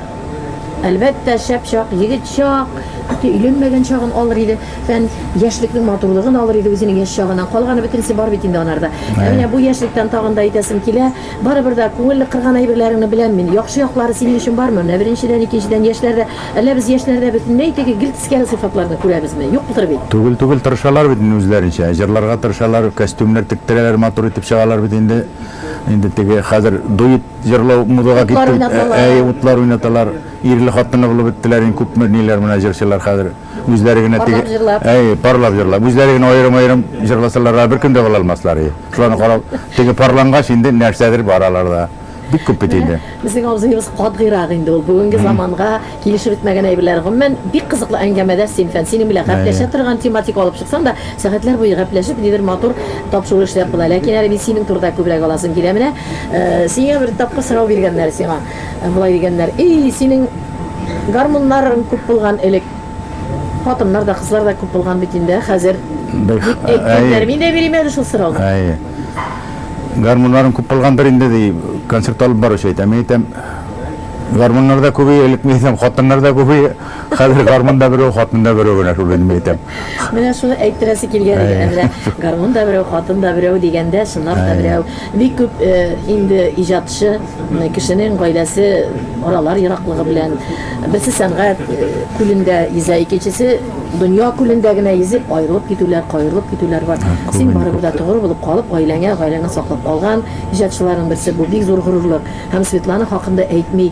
S2: әлбәттә шәп чак, егет чак, хәтта өйләнмәгән чагын алыр иде. Фән яшьлекнең матурлыгын алыр иде үзенең яшь чагыннан. Калганы бөтенесе бар бит инде анарда. Ә менә бу яшьлектән тагын да әйтәсем килә, Барыбер дә күңелне кырган әйберләреңне беләм мин. Яхшы яклары синең өчен бармы? Менә беренчедән, икенчедән, яшьләрдә, әллә без яшьләрдә бөтенләй теге гел тискәре сыйфатларны күрәбезме? Юктыр бит. Түгел, түгел, тырышалар бит
S3: инде үзләренчә, җырларга тырышалар, костюмнар тектерәләр, матур итеп чыгалар бит инде. Инде теге хәзер дуэт җырлау модага китте бит. Утлар уйнаталар. Әйе,
S2: утлар уйнаталар.
S3: Ирле-хатынлы булып беттеләр инде күпме ниләр менә җырчылар хәзер. Үзләре генә теге... Парлап җырлап. Әй,
S2: парлап җырлап.
S3: Үзләре генә аерым-аерым җырласалар, бер көндә була алмаслар. Шуларны карап, теге парлангач инде нәрсәдер бар аларда. Бик күп бит инде. Безнең абзыебыз
S2: катгыйрак инде ул. Бүгенге заманга килешеп бетмәгән әйберләр. Гомумән, бик кызыклы әңгәмәдә син, фән. Синең белән гәпләшә торган тематика алып чыксаң да, сәгатьләр буе гәпләшеп, нидер матур тапшыру эшләп була. Ләкин әле мин синең турыда күбрәк аласым килә. Менә сиңа бер тапкыр сорау биргәннәр сиңа. Болай дигәннәр, Ий, синең гармуннарың күп булган элек. Хатыннар да, кызлар да күп булган бит инде, ә хәзер? Дип әйткәннәр. Мин дә бирим әле шул сорауны. Әйе.
S3: Гармуннарың күп булгандыр инде, ди концерт алып баручы әйтә. Мин әйтәм, гармуннар да күбәя, элек мин әйтәм, хатыннар да күбәя. Хәзер гармун да берәү, хатын да берәү генә шул инде мин әйтәм. Менә шуны
S2: әйттерәсе килгән иде. Ә менә гармун да берәү, хатын да берәү дигәндә, чынлап та берәү. Бик күп инде иҗатчы кешенең гаиләсе аралар ераклыгы белән, берсе сәнгать күлендә йөзә, икенчесе дөнья күлендә генә йөзеп, аерылып китүләр, каерылып китүләр бар. Син барыбер дә тогры булып калып, гаиләңә, гаиләңне саклап калган иҗатчыларның берсе, бу бик зур горурлык. Һәм Светлана хакында әйтми.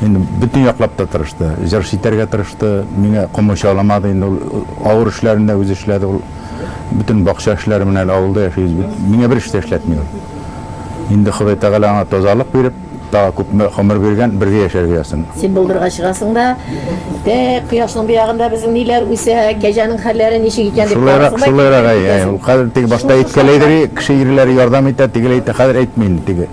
S3: Инде бөтен яклап та тырышты. Җырчы итәргә тырышты, миңа комачауламады инде ул. Авыр эшләрен дә үзе эшләде ул. Бөтен бакча эшләре менә әле авылда яшибез бит. Миңа бер эш тә эшләтми ул. Инде Ходай Тәгалә аңа тазалык биреп, тагы күпме гомер биргән, бергә яшәргә язсын. Син болдырга чыгасың
S2: да, Әй, кояшның бу ягында безнең ниләр үсә, кәҗәнең хәлләре ничек икән дип Шулайрак, карарсың да шулайрак, әй,
S3: әй. Ул хәзер теге башта әйткәләйдер, и, кеше ирләре ярдәм итә, тегеләй итә, хәзер әйтми инде теге.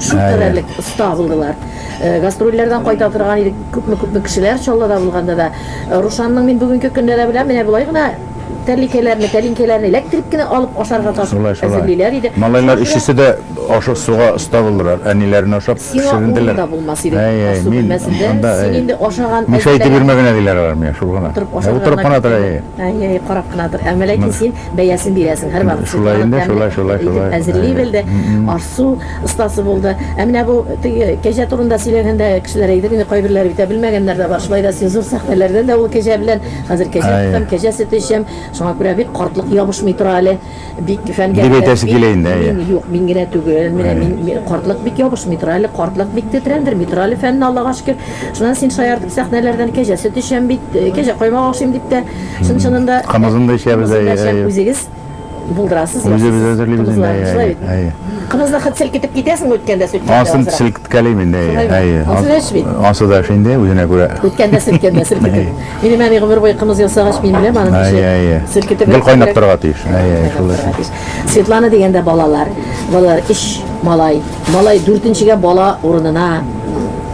S2: Шул Әйе. кадәрлек оста булдылар. Э, Гастрольләрдән кайта торган идек, күпме-күпме кешеләр Чаллыда булганда да. Э, Рушанның мин бүгенге көндә дә беләм, менә болай гына тәлинкәләрне, тәлинкәләрне эләктереп кенә алып ашарга тас Шулай, шулай. әзерлиләр иде. Малайлар Шуңа күрә өчесе дә
S3: ашык суга оста булдылар. Әниләренә ошап Сиңа урын пешеренделәр. да булмас иде. Әй, әй,
S2: Асу мин бүлмәсендә анда, син әй. инде ашаган Мишә әзерләгән- итеп йөрмә генә диләр
S3: алар миңа, шул гына. Утырып Ә, ашап Утырып кына тора, әй. Әй, әй, карап кына
S2: тор. Әмма ләкин син Бәясен бирәсең, һәрвакыт. Шулай инде, шулай, шулай, шулай.
S3: Итеп әзерли белде,
S2: аш-су остасы булды. Ә менә бу теге кәҗә турында сөйләгәндә, кешеләр әйтер инде, кайберләре бит, ә белмәгәннәр дә бар. Шулай да син зур сәхнәләрдән дә ул кәҗә белән, хәзер кәҗә тотам, кәҗә сөте эчәм, шуңа күрә бик картлык ябышмый тора әле. Бик фәнгә керәм. Дип әйтәсе килә инде, әйе.
S3: Мин, юк, мин генә түгел,
S2: менә мин, картлык бик ябышмый тора әле, картлык бик тетрәндерми тора әле фәнне, Аллага шөкер. Шуннан син шаяртып сәхнәләрдән кәҗә сөт эчәм бит, кәҗә каймак ашыйм дип тә чын-чынында Кымызын да эчәбез,
S3: әйе, әйе. Үзегез
S2: булдырасыз. Үзебез әзерлибез
S3: инде, әйе, әйе. Кымызны хет
S2: селкетеп китәсеңме үткәндә сөткәндә? Асын селкеткәлим
S3: инде, әйе, әйе. Ансы да эш бит. Ансы да эш инде, үзенә күрә. Үткәндә селкеткәндә
S2: селкетеп. Минем әни гомер буе кымыз ясагач, мин беләм аның эшен. Әйе, әйе. Селкетеп. Гел кайнап торырга тиеш.
S3: Әйе, әйе, шулай.
S2: Светлана дигәндә балалар, балалар өч малай. Малай дүртенчегә бала урынына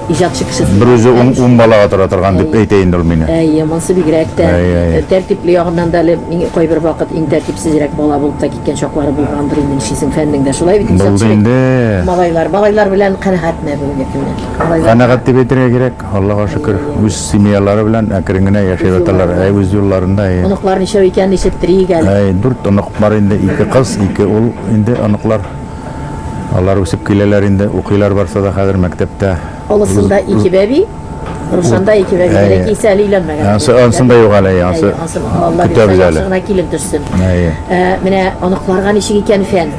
S2: иҗатчы кеше сыймас. Берүзе ун, ун
S3: балага тора торган дип әйтә инде ул мине. Әйе, монсы бигрәк тә
S2: Әйе, әйе. э, тәртипле ягыннан да әле мин кайбер вакыт иң тәртипсезрәк бала булып та киткән чаклары булгандыр инде нишлисең фәннең дә шулай бит Булды иҗатчы бит. инде. Малайлар, малайлар белән канәгатьме бүгенге көннән? Малайлар- Канәгать дип әйтергә
S3: кирәк, Аллага шөкер. Үз семьялары белән әкрен генә яшәп яталар. Әй, үз юлларында. әй. Оныклар ничәү икән,
S2: ишеттерик әле. Әй, дүрт онык бар инде,
S3: ике кыз, ике ул инде оныклар. Алар үсеп киләләр инде, укыйлар барсы да хәзер мәктәптә. Олысында ике
S2: бәби, Рушанда ике бәби, Әйе. ләкин исә әле өйләнмәгән. Ансы- Әле- ансын да юк әле, Әйе,
S3: ансы ансын Алла көтәбез бирса,
S2: әле. яхшы гына килен төшсен. Әйе. Ә, Менә оныкларга ничек икән фән.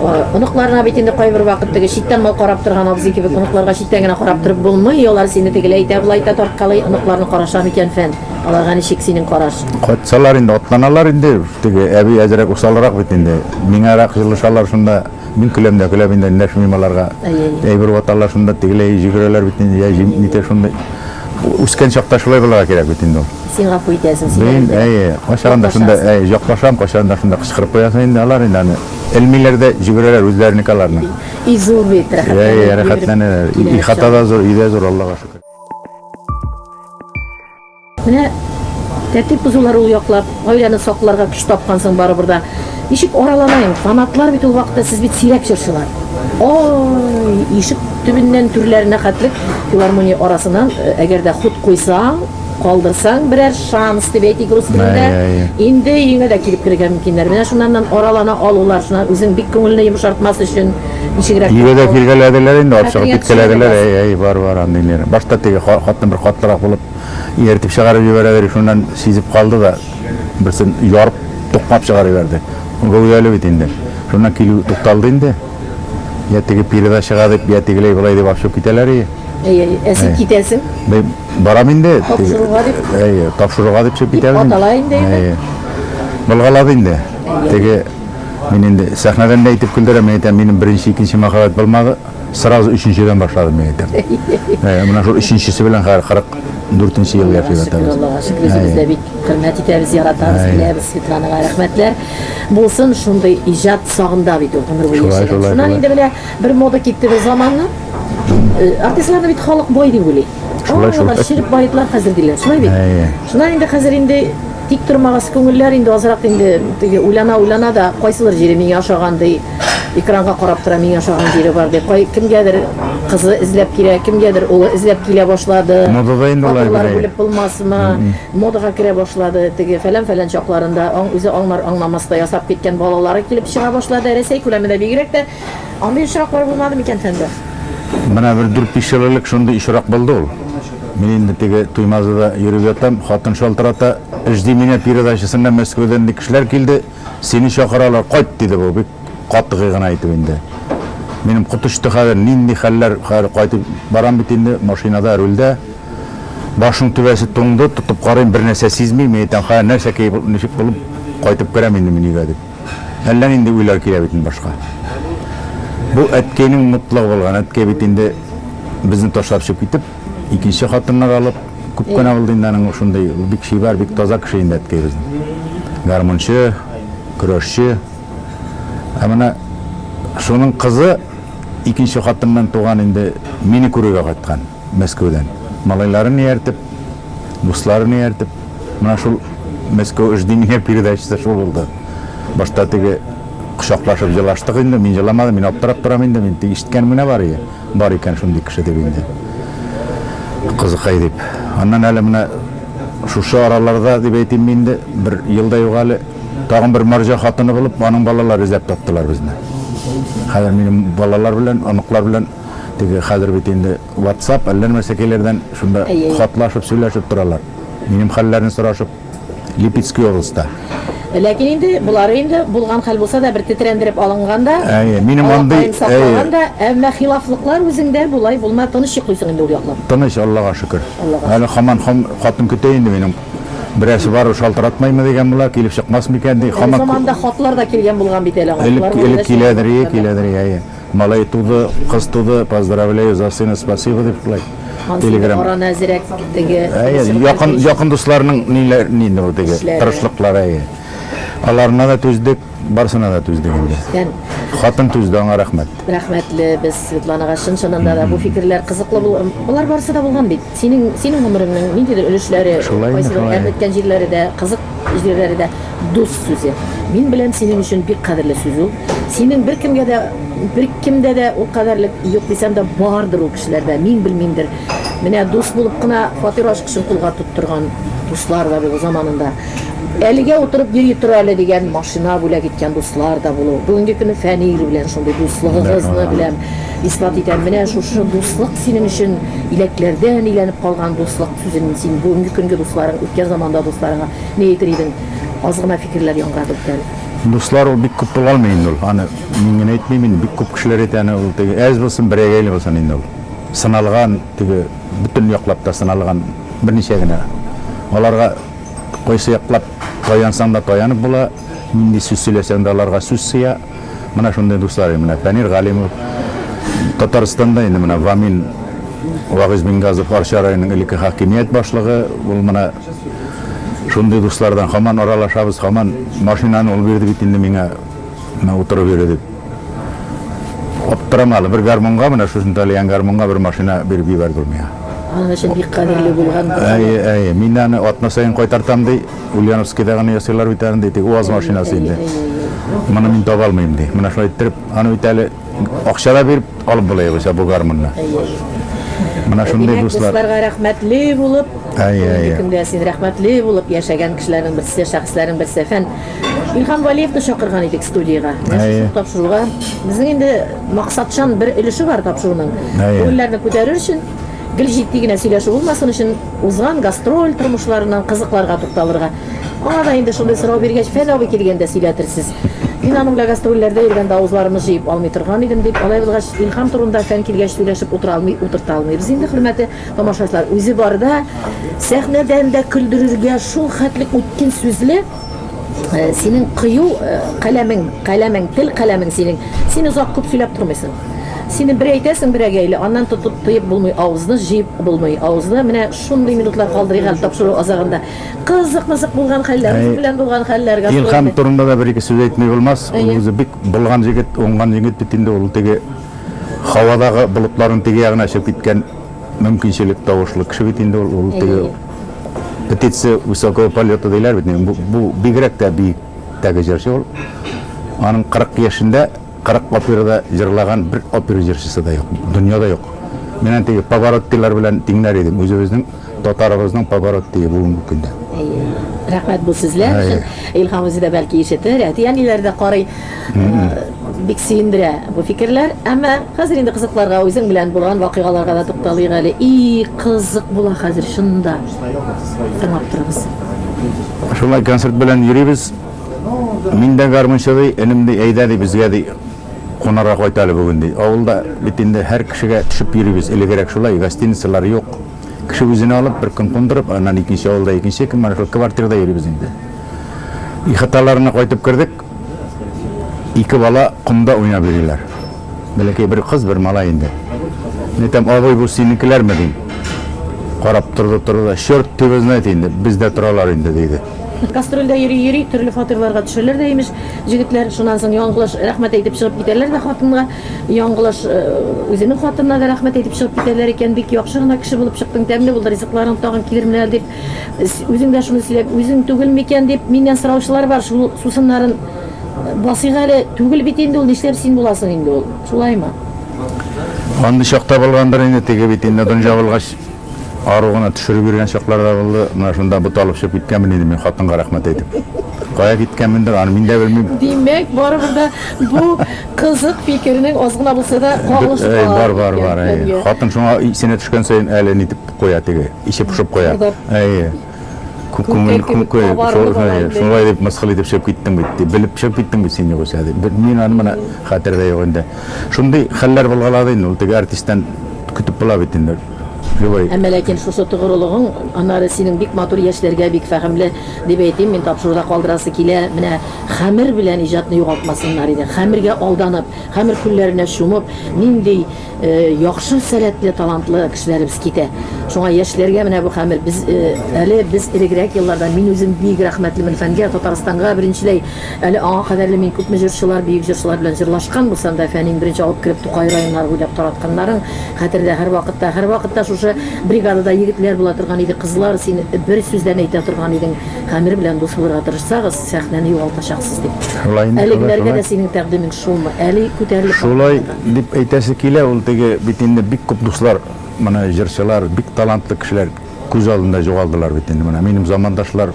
S2: О, Оныкларына бит инде кайбер вакыт теге читтән мал карап торган абзый кебек оныкларга читтән генә карап торып булмый. Алар сине тегеләй итә, болай итә тарткалый. Оныкларны караша микән фән? Аларга ничек синең караш? Кайтсалар инде,
S3: атланалар инде. Теге әби әзрәк усалрак бит инде. Миңарак җылышалар шунда. Мин көләм дә көләм инде, эндәшмим аларга. Әйбер ваталар шунда, тегеләй җигерәләр бит инде, я җим, нитә шундый. Үскән чакта шулай булырга кирәк бит инде ул. Син гафу итәсең,
S2: син Мин, әйбер. әйе,
S3: кайчагын да
S2: шунда, Яклашасың.
S3: әйе, яклашам, кайчагын да шунда кычкырып куясың инде, алар инде аны элмиләр дә җигерәләр үзләренеке аларның. И зур бит,
S2: Әйе, рәхәтләнеп йөреп рәхәтләнәләр.
S3: И килә хата чак. да зур, өй дә зур, Аллага шөкер.
S2: Менә тәртип бозулар ул яклап, гаиләне сакларга көч тапкан соң барыбер да. Ничек араланаем? Фанатлар бит ул вакытта сез бит сирәк җырчылар. Ой, ишек төбеннән түрләренә хәтлек филармония арасыннан, э, әгәр дә хут куйсаң, калдырсаң берәр шанс дип әйтик рус телендә. Ай, ай, ай. Инде өеңә дә килеп керергә мөмкиннәр. Менә шуннан аралана алулар, шуннан үзең бик күңелне йомшартмас өчен Ничегрәк? Өйгә дә килгәләделәр
S3: инде, алып чыгып киткәләделәр. Әй, әй, бар, бар, андый нервы. Башта теге хатны бер катлырак булып ияртеп чыгарып җибәрәдер, шуннан сизеп калды да, берсен ярып, тукмап чыгарып җибәрде. Гәүдәле бит инде. Шуннан килү тукталды инде. Я теге пирда чыга дип, я тегеләй болай дип ачып китәләр ие. Әй, әй, ә син
S2: китәсең? Мин барам
S3: инде. Тапшыруга
S2: дип. Әй, тапшыруга дип чыгып китәм.
S3: Атала инде. Әй.
S2: Былгалады
S3: инде. Теге Мин инде сәхнәдән дә әйтеп көлдерәм, мин әйтәм, минем беренче, икенче мәхәббәт булмады, сразу өченчедән башладым, мин әйтәм. Ә, менә шул өченчесе белән хәзер 44 ел яши ятабыз. Аллага шөкер, үзебез дә бик
S2: хөрмәт итәбез, яратабыз, киләбез Светланага рәхмәтләр. Булсын шундый иҗат сагында бит ул гомер буе яшәгән. Шуннан инде менә бер мода китте бер заманны. Артистларны бит халык бай дип уйлый. Шулай шул. Чиреп баетлар хәзер диләр, шулай бит. Шуннан инде хәзер инде Тик тормагыз күңелләр инде азрак инде теге уйлана уйлана да кайсылыр җире миңа ошаган ди экранга карап тора миңа ошаган җире бар ди кай кемгәдер кызы эзләп килә кемгәдер улы эзләп килә башлады Модада инде алай фатирлар
S3: гүләй. бүлеп булмасмы
S2: модага керә башлады теге фәлән фәлән чакларында аң үзе аңнар аңнамаста ясап киткән балалары килеп чыга башлады рәсәй күләмендә бигрәк тә андый очраклар булмады микән фәндәс? Менә бер
S3: дүрт-биш ел элек шундый очрак булды ул. Мин инде теге Туймазыда йөреп ятам, хатын шалтырата, Жди меня передачасына Мәскәүдән ник кешеләр килде, сине чакыралар, кайт, диде бу, бик катгый гына итеп инде. Минем кот очты хәзер, нинди хәлләр, хәзер кайтып барам бит инде, машинада, рульдә. Башның түбәсе туңды, тотып карыйм, бернәрсә сизмим, мин әйтәм, хәзер нәрсә киеп, ничек булып кайтып керәм инде мин өйгә, дип. Әллә нинди уйлар килә бит инде башка. Бу әткәйнең мотлыгы булган. Әткәй бит инде безне ташлап чыгып китеп, икенче хатыннар алып, күп кенә булды инде аның шундый, ул бик чибәр, бик таза кеше инде әткәй безнең. Гармунчы, көрәшче. Ә менә шуның кызы икенче хатыннан туган инде мине күрергә кайткан. Мәскәүдән. Малайларын ияртеп, дусларын ияртеп, менә шул Мәскәү эш ди миңа передачасы шул булды. Башта теге кочаклашып елаштык инде, мин еламадым, мин аптырап торам инде, мин теге ишеткәнем генә бар иде, бар икән шундый кеше дип инде. Кызыкай дип. Аннан әле менә шушы араларда дип әйтимме инде, бер ел да юк әле, тагын бер марҗа хатыны булып, аның балалары эзләп таптылар безне. Хәзер минем балалар белән, оныклар белән Теге хәзер бит инде ватсап, әллә нәмә сәкәйләрдән шунда хатлашып, сөйләшеп торалар. Минем хәлләрне сорашып, Липецкий областьта. Ләкин инде
S2: болары инде булган хәл булса да, бер тетрәндереп алынган да, алакаен
S3: саклаган да, әмма
S2: хилафлыклар үзеңдә болай булма, тыныч йоклыйсың инде ул яклап. Тыныч, Аллага шөкер.
S3: Әле хаман хатын көтә инде минем. Берәрсе бар ул шалтыратмаймы дигән була, килеп чыкмас микән ди. Заманында хатлар да
S2: килгән булган бит әле аңа. Элек киләдер,
S3: киләдер, әйе. Малай туды, кыз туды, поздравляю за сына, спасибо дип шулай. Телеграм. Араны әзерәк
S2: теге. Әйе, якын якын
S3: дусларның ниләр нинди бу теге тырышлыклары әйе. Аларына да түздек, барсына да түздек инде. Хатын түзде, аңа рәхмәт. Рәхмәтле без
S2: Светланага чын чынында да бу фикерләр кызыклы булган. Болар барысы да булган бит. Синең синең гомереңнең ниндидер өлешләре, кайсы бер җирләре дә, кызык җирләре дә. Дус сүзе. Мин беләм синең өчен бик кадерле сүз ул. Синең беркемгә дә, беркемдә дә ул кадәрлек юк дисәм дә бардыр ул кешеләрдә, мин белмимдер. Менә дус булып кына фатир ачкычын кулга тоттырган дуслар да булу заманында. Әлегә утырып йөри тор әле дигән машина бүләк иткән дуслар да булу. Бүгенге көне Фәнил белән шундый дуслыгыгызны беләм, исбат итәм. Менә шушы дуслык синең өчен иләкләрдән иләнеп калган дуслык сүзен син бүгенге көнге дусларың, үткән заманда дусларыңа Ни әйтер идең? Аз гына фикерләр яңгырады бүтән. Дуслар ул бик күп була алмый
S3: инде ул. Аны мин генә әйтмим инде, бик күп кешеләр әйтә аны. Ул теге әз булсын, берәгәйле булсын инде ул. Сыналган, теге бөтен яклап та сыналган берничә генә. Аларга кайсы яклап таянсаң да таянып була, нинди сүз сөйләсәң дә аларга сүз сыя. Менә шундый дуслар инде. Менә Фәнир Галимов, Татарстанда инде менә Вамил Вагыйзбингазов, Арча районының элекке хакимият башлыгы, ул менә. Шундый дуслардан һаман аралашабыз, һаман машинаны ул бирде бит инде миңа, менә утырып йөре дип. Аптырама әле, бер гармунга, менә шусын талиган гармунга бер машина биреп җибәрде ул миңа. Аның өчен бик
S2: кадерле булган. Әйе, әйе, мин
S3: аны атна саен кайтартам ди, Ульяновскида гына ясыйлар бит аны ди, теге УАЗ машинасы инде. Моны мин таба алмыйм ди. Менә шулай иттереп, аны бит әле Акча да биреп алып була югыйсә бу гармунны. Менә шундый Димәк, дуслар. дусларга рәхмәтле
S2: булып, Әйе, бүгенге әйе. көндә син рәхмәтле булып яшәгән кешеләрнең берсе, шәхесләрнең берсе. Фән Илһам Валиевны чакырган идек студиягә. Әйе. Нәшәсен тапшыруга. Безнең инде максатчан бер өлеше бар тапшыруның. Әйе. Күңелләрне күтәрер өчен Гел җитди генә сөйләшү булмасын өчен, узган гастроль тормышларыннан кызыкларга тукталырга. Аңа да инде шундый сорау биргәч, Фән абый килгәндә сөйләтерсез. Мин аның белән гастрольләрдә йөргәндә авызларымны җыеп алмый торган идем, дип, алай булгач, Илһам турында Фән килгәч сөйләшеп утыра алмый, утырта алмыйбыз инде, хөрмәтле тамашачылар. Үзе барда сәхнәдән дә көлдерергә шул хәтлек үткен сүзле. Э, синең кыю э, каләмең, каләмең, тел каләмең синең. Син озак күп сөйләп тормыйсың. Сине бер әйтәсең, бер әгәйле, аннан тотып тыеп булмый, авызны җыеп булмый. Авызны менә шундый минутлар калдырыйк әле тапшыру азагында. Кызык-мызык булган хәлләр, үзе белән булган хәлләр. Илһам турында да бер-ике
S3: сүз әйтми булмас. Ул үзе бик булган егет, уңган егет бит инде ул теге һавадагы болытларын теге ягына чыгып киткән мөмкинчелек тавышлы кеше бит инде ул теге Птицы высокого полета диләр бит, бу, бу бигрәк тә биектәге җырчы ул. Аның 40 яшендә 40 операда җырлаган бер опера җырчысы да юк, дөньяда юк. Мин антеге повороттилар белән тиңнәр идем, үзебезнең татарыбызның повороттие бүгенге көндә. Әйе. Рәхмәт
S2: бу сүзләр өчен. Илһам үзе дә бәлки ишетер, әти-әниләре дә карый. Бик сөендерә бу фикерләр. Әмма хәзер инде кызыкларга, үзең белән булган вакыйгаларга да тукталыйк әле. И, кызык була хәзер, чын да. Тыңлап торыгыз. Шулай
S3: концерт белән йөрибез. Мин дә гармунчы, ди. Энем, ди, әйдә, ди, безгә, ди, кунарга кайт әле бүген, ди. Авылда бит инде һәр кешегә төшеп йөрибез. Элегрәк шулай, гостиницалар юк. Кеше үзенә алып, бер көн кундырып, аннан икенче авылда икенче көн, менә шул квартирада йөрибез инде. Ихаталарына кайтып кердек. Ике бала комда уйнап йөриләр. Бәләкәй бер кыз, бер малай инде. Мин әйтәм, абый, бу синекеләрме, дим. Карап торды, торды да, черт тиво знает инде, бездә торалар инде, диде. Гастрольдә
S2: йөри-йөри, төрле фатирларга төшәләр дә, имеш, җегетләр. Шуннан соң яңгылыш рәхмәт әйтеп чыгып китәләр дә хатынга. Яңгылыш үзенең хатынына да рәхмәт әйтеп чыгып китәләр икән. Бик яхшы гына кеше булып чыктың, тәмле булды ризыкларың, тагын килермен әле, дип. Үзең дә шуны сөйләп, үзең түгел микән дип миннән сораучылар бар, шул сусыннарын басыйк әле, түгел бит инде ул, нишләп син буласың инде ул, шулаймы?
S3: Андый чакта булгандыр инде, теге бит инде дан җабылгач, ару гына төшереп йөргән чаклар да булды, менә шунда бот алып чыгып киткәнмен инде мин хатынга рәхмәт әйтеп. Кая киткәнмендер, аны мин дә белмим. Димәк, барыбер
S2: дә бу кызык фикернең аз гына булса да кагылышы бар. Бар, бар, бар.
S3: Хатын шуңа исенә төшкән саен әле нитеп Куя теге, иче пошып куя. Әйе. Күңел күңел. Шулай дип мыскыл итеп чыгып киттең бит, ди. Белеп чыгып киттең бит син югыйсә, ди. Мин аны менә хәтердә юк инде. Шундый хәлләр булгалады инде ул теге артисттан көтеп була бит инде. Любой. Әмма ләкин
S2: шушы тогырылыгың, аннары синең бик матур яшьләргә бик фәһемле дип әйтим мин, тапшыруда калдырасы килә. Менә хәмер белән иҗатны югалтмасыннар иде. Хәмергә алданып, хәмер күлләренә чумып, нинди Яхшы сәләтле, талантлы кешеләребез китә. Шуңа яшьләргә менә бу хәмер. Без әле без элегрәк елларда мин үзем бик рәхмәтлемен фәнгә, Татарстанга беренчеләй. Әле аңа кадәр ле мин күпме җырчылар, бөек җырчылар белән җырлашкан булсам да, фәнин беренче алып кереп Тукай районнары буйлап таратканнарын хәтердә һәрвакытта. Һәрвакытта шушы бригадада егетләр була торган иде, кызлар, син бер сүздән әйтә торган идең, хәмер белән дус булырга тырышсагыз. Сәхнәне югалтачаксыз дип. Шулай инде, шулай, Әлегеләргә шулай. дә синең тәкъдимең шулмы? Әле күтәрелеп Шулай бармыйм да. дип
S3: әйтәсе килә, ул теге бит инде бик күп дуслар, моны җырчылар, бик талантлы кешеләр күз алдында җугалдылар бит инде, менә минем замандашлар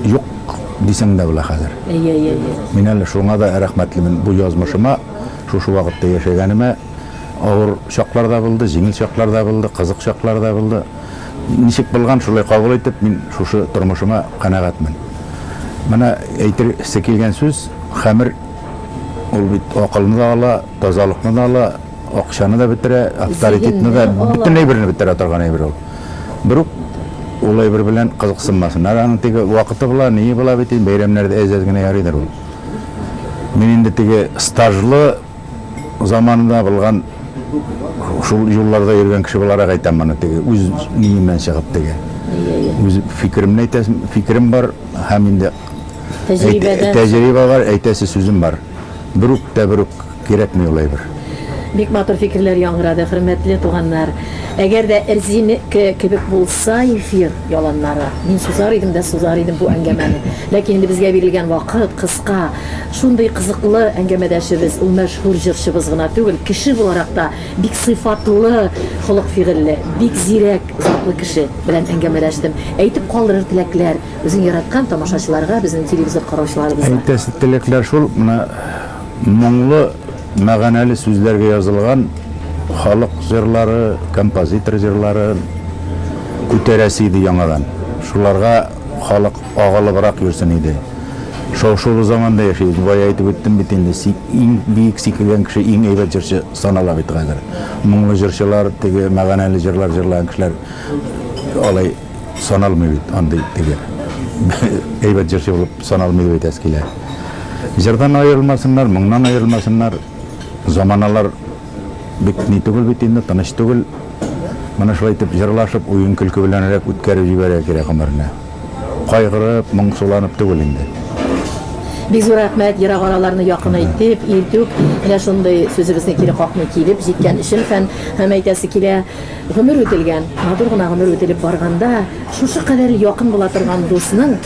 S3: юк дисәң дә була хәзер. Әйе, әйе, әйе. Мин әле шуңа да рәхмәтлемен, бу язмышыма шушы вакытта яшәгәнемә, авыр чаклар да булды, җиңел чаклар да булды, кызык чаклар да булды. Ничек булган, шулай кабул итеп, мин шушы тормышыма канәгатьмен. Менә әйтергесе килгән сүз, хәмер ул бит акылны да ала, тазалыкны да ала, акчаны да бетерә, авторитетны да, бөтен әйберне бетерә торган әйбер ул. Берүк ул әйбер белән кызыксынмасыннар, аның теге вакыты була, ние була бит, бәйрәмнәрдә әз-әз генә ярыйдыр ул. Мин инде теге стажлы заманында булган шул юлларда йөргән кеше буларак әйтәм моны теге үз ниемнән чыгып теге үз фикеремне әйтәсем фикерем бар һәм инде тәҗрибәдә тәҗрибә бар әйтәсе сүзем бар бер үк тә бер үк кирәкми ул әйбер бик матур
S2: фикерләр яңгырады хөрмәтле туганнар әгәр дә эрзинеке кебек булса эфир яланнары мин сузар идем дә сузар идем бу әңгәмәне ләкин инде безгә бирелгән вакыт кыска Шундый кызыклы әңгәмәдәшебез, ул мәшһүр җырчыбыз гына түгел, кеше буларак та бик сыйфатлы, холык-фигыльле, бик зирәк затлы кеше белән әңгәмәдәштем. Әйтеп калдырыр теләкләр, үзең яраткан тамашачыларга, безнең телевизор караучыларыбызга? Әйтәсе теләкләр
S3: шул, менә моңлы, мәганәле сүзләргә язылган халык җырлары, композитор җырларын күтәрәсе иде яңадан. Шуларга. Халык агылыбрак йөрсен иде. Шау-шулы заманда яшибез. Бая әйтеп үттем бит инде, сик, иң биек сикергән кеше иң әйбәт җырчы санала бит хәзер. Моңлы җырчылар, теге мәганәле җырлар җырлаган кешеләр алай саналмый бит, андый теге әйбәт җырчы булып саналмый дип әйтәсе килә. Җырдан аерылмасыннар, моңнан аерылмасыннар. Заманалар Бик ни түгел бит инде, тыныч түгел. Моны шулай итеп җырлашып, уен-көлке беләнрәк үткәреп җибәрергә кирәк гомерне. Кайгырып, моңсуланып түгел инде. Бик
S2: зур рәхмәт, ерак араларны якын итеп, илтүк, менә шундый сүзебезне кире какмый килеп җиткән өчен фән һәм әйтәсе килә, гомер үтелгән, матур гына гомер үтелеп барганда, шушы кадәр якын була торган дусның,